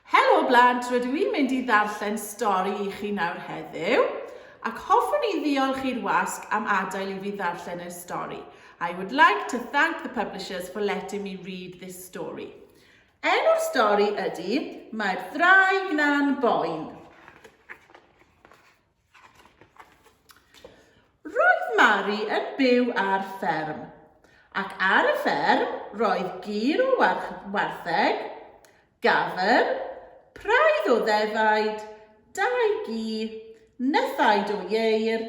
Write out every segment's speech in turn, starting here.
Helo blant, rydw i'n mynd i ddarllen stori i chi nawr heddiw, ac hoffwn i ddiolch i'r wasg am adael i fi ddarllen y stori. I would like to thank the publishers for letting me read this story. Enw'r stori ydy Mae'r Ddraig Na'n Boen. Roedd Mari yn byw ar fferm, ac ar y fferm roedd gir o wartheg, gafr, praidd o ddefaid, dau gi, nythaid o ieir,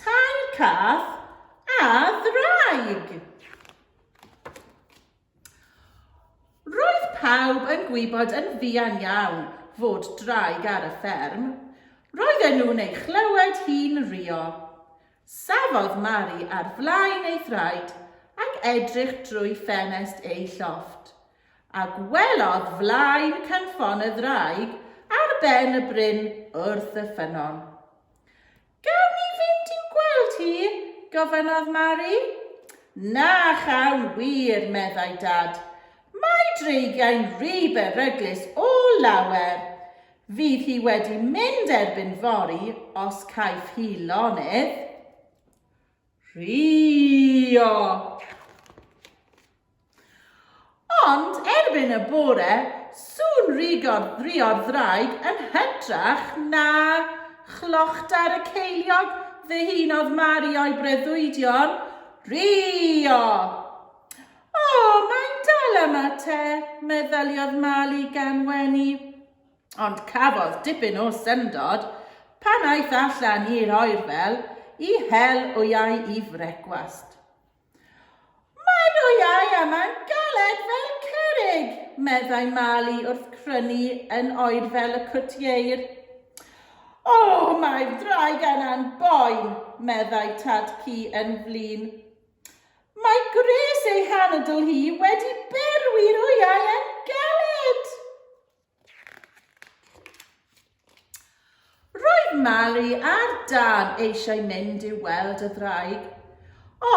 tair cath a ddraig. Roedd pawb yn gwybod yn fuan iawn fod draig ar y fferm. Roedden nhw'n ei chlywed hi'n rhuo. Safodd Mari ar flaen ei thraed ac edrych drwy ffenest ei llofft, a gwelodd flaen cynffon y ddraig ar ben y bryn wrth y ffynnon. Gawn ni fynd i'w gweld hi? gofynnodd Mari. Na chawn wir, meddai Dad. Mae Dreigiau'n rhy beryglus o lawer. Fydd hi wedi mynd erbyn fory os caiff hi lonydd. Rhio! Ond erbyn y bore, sŵn rigod drio'r ddraig yn hytrach na chlochtar y ceiliog ddihunodd Mari o'i breuddwydion, Rio! O, mae'n dal am y te, meddyliodd Mali gan wenu. Ond cafodd dipyn o syndod pan aeth allan i'r oerfel i hel wyau i frecwast. Mae'n oiau a mae'n galed fel cerrig, meddai Mali wrth crynu yn oer fel y cwtieir. O, mae'r ddraig yna'n boen, meddai Tad Cu yn flin. Mae gwres ei hanadl hi wedi berwi'r oiau yn galed! Roedd Mari a'r dad eisiau mynd i'w weld y ddraig,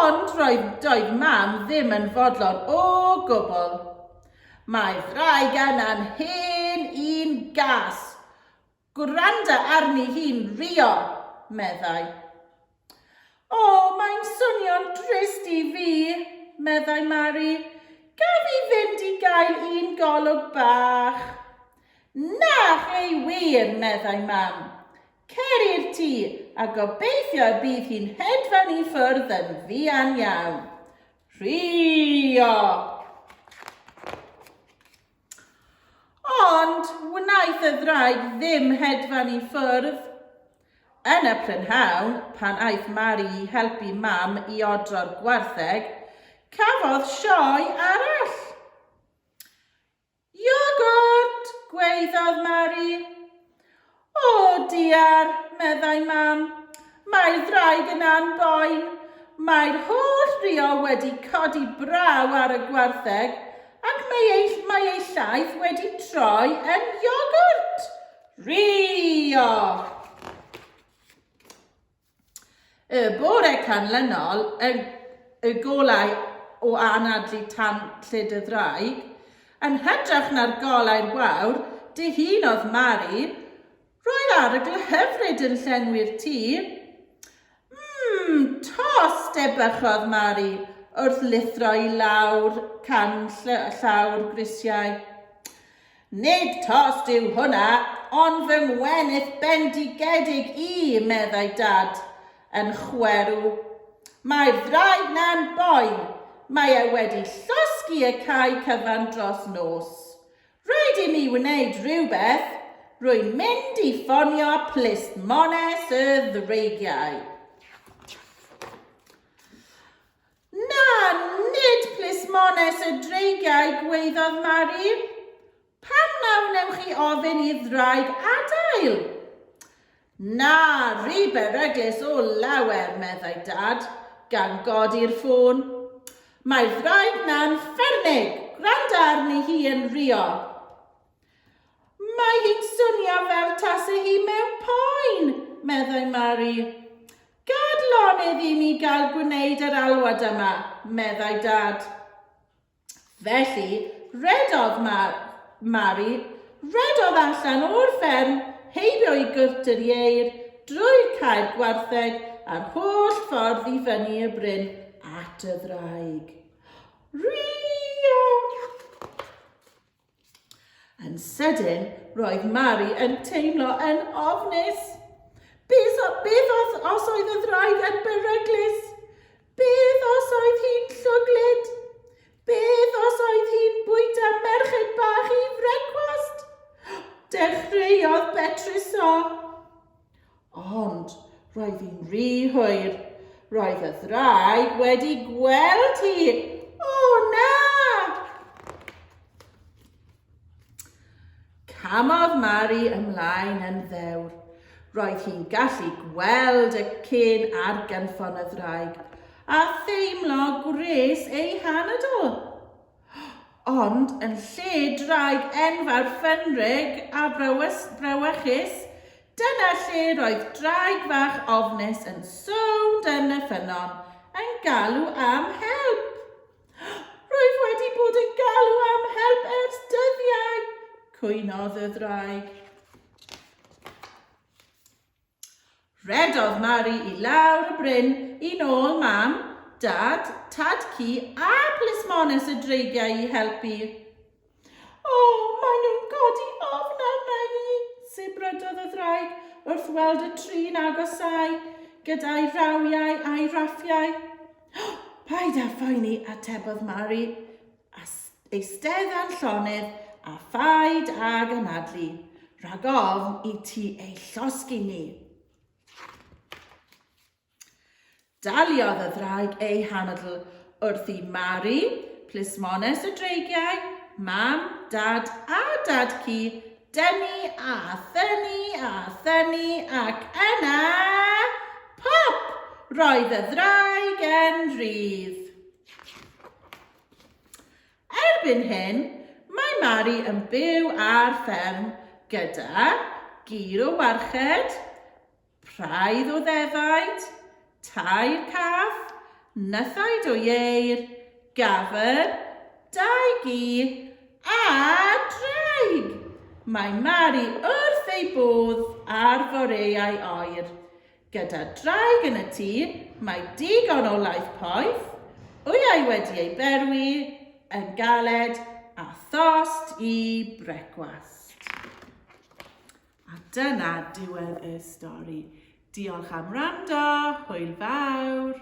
ond roedd doedd Mam ddim yn fodlon o gwbl. Mae ddraig yna'n hen un gas! Gwranda arni hi'n rio! meddai. O, mae'n swnio'n drist i fi, meddai Mari. Gaf i fynd i gael un golwg bach? Na, chei wir, meddai Mam. Cer i'r tŷ, a gobeithio y bydd hi'n hedfan i ffwrdd yn fuan iawn. Rhio! Ond wnaeth y ddraig ddim hedfan i ffwrdd. Yn y prynhawn, pan aeth Mari i helpu Mam i odro'r gwartheg, cafodd sioe arall. Iogwrt! gwaeddodd Mari. O, diar, meddai Mam, mae'r ddraig yna'n boen. Mae'r holl rio wedi codi braw ar y gwartheg, ac mae ei, mae ei llaeth wedi troi yn iogwrt! Rio! Y bore canlynol, y, y golau o anadlu tan lled y ddraig, yn hytrach na'r golau'r wawr, dihunodd Mari, Roedd arogl hyfryd yn llenwi'r tir. Mmm, tost, ebychodd Mari, wrth lithro i lawr can llawr grisiau. Nid tost yw hwnna, ond fy ngwenith bendigedig i, meddai Dad, yn chwerw. Mae'r ddraig 'na'n boi, mae e wedi llosgi y cae cyfan dros nos. Rhaid i mi wneud rhywbeth, rwy'n mynd i ffonio Plismones y Ddreigiau. Na, nid plismones y dreigiau gwaeddodd Mari. Pam na wnewch chi ofyn i ddraig adael? Na, rhy beryglus o lawer, meddai Dad, gan godi'r ffôn. Mae'r ddraig na'n ffermig, gwranda arni hi yn rio. Mae hi'n swnio fel tase hi mewn poen, meddai Mari. Gad lonydd i mi gael gwneud yr alwad yma, meddai Dad. Felly, rhedodd Ma Mari, rhedodd allan o'r fferm, heibio i Gwrt yr Ieir, drwy'r cae'r gwartheg, a'r holl ffordd i fyny y bryn at y ddraig. Rwio! Yn sydyn, roedd Mari yn teimlo yn ofnus. Beth, beth os, os oedd y ddraig yn beryglus? Beth os oedd hi'n llwglyd? Beth os oedd hi'n bwyta merched bach i frecwast? Dechreuodd Betrus o. Ond roedd hi'n rhy hwyr. Roedd y ddraig wedi gweld hi. O na! Camodd Mari ymlaen yn ddewr. Roedd hi'n gallu gweld y cyn ar gynffon y ddraig a theimlo gwres ei hanadl. Ond yn lle draig enfawr ffenrig a brewys, brewechus, dyna lle roedd draig fach ofnus yn sownd yn y ffynnon, yn galw am help. Rwyf wedi bod yn galw am help ers dyddiau, cwynodd y ddraig. Rhedodd Mari i lawr y bryn yn ôl Mam, Dad, Tad-cu a plismones y dreigiau i helpu. O, maen nhw'n codi ofn arna i! sibrydodd y ddraig wrth weld y tri'n agosáu gyda'i rawiau a'i raffiau. Paid â phoeni, atebodd Mari. A eisteddau'n llonydd a phaid ag anadlu, rhag ofn i ti ei llosgi ni. Daliodd y ddraig ei hanadl wrth i Mari, plismones y dreigiau, mam, dad a dad-cu, dynnu a thynnu a thynnu ac yna... Pop! Roedd y ddraig yn rhydd. Erbyn hyn, mae Mari yn byw ar fferm gyda gir o warched, praidd o ddefaid, tair cath, nythaid o ieir, gafr, dau gi a draig! Mae Mari wrth ei bodd â'r foreau oer, Gyda draig yn y tŷ, mae digon o laeth poeth, wyau wedi ei berwi yn galed a thost i brecwast. A dyna diwedd y stori. Diolch am wrando, hwyl fawr!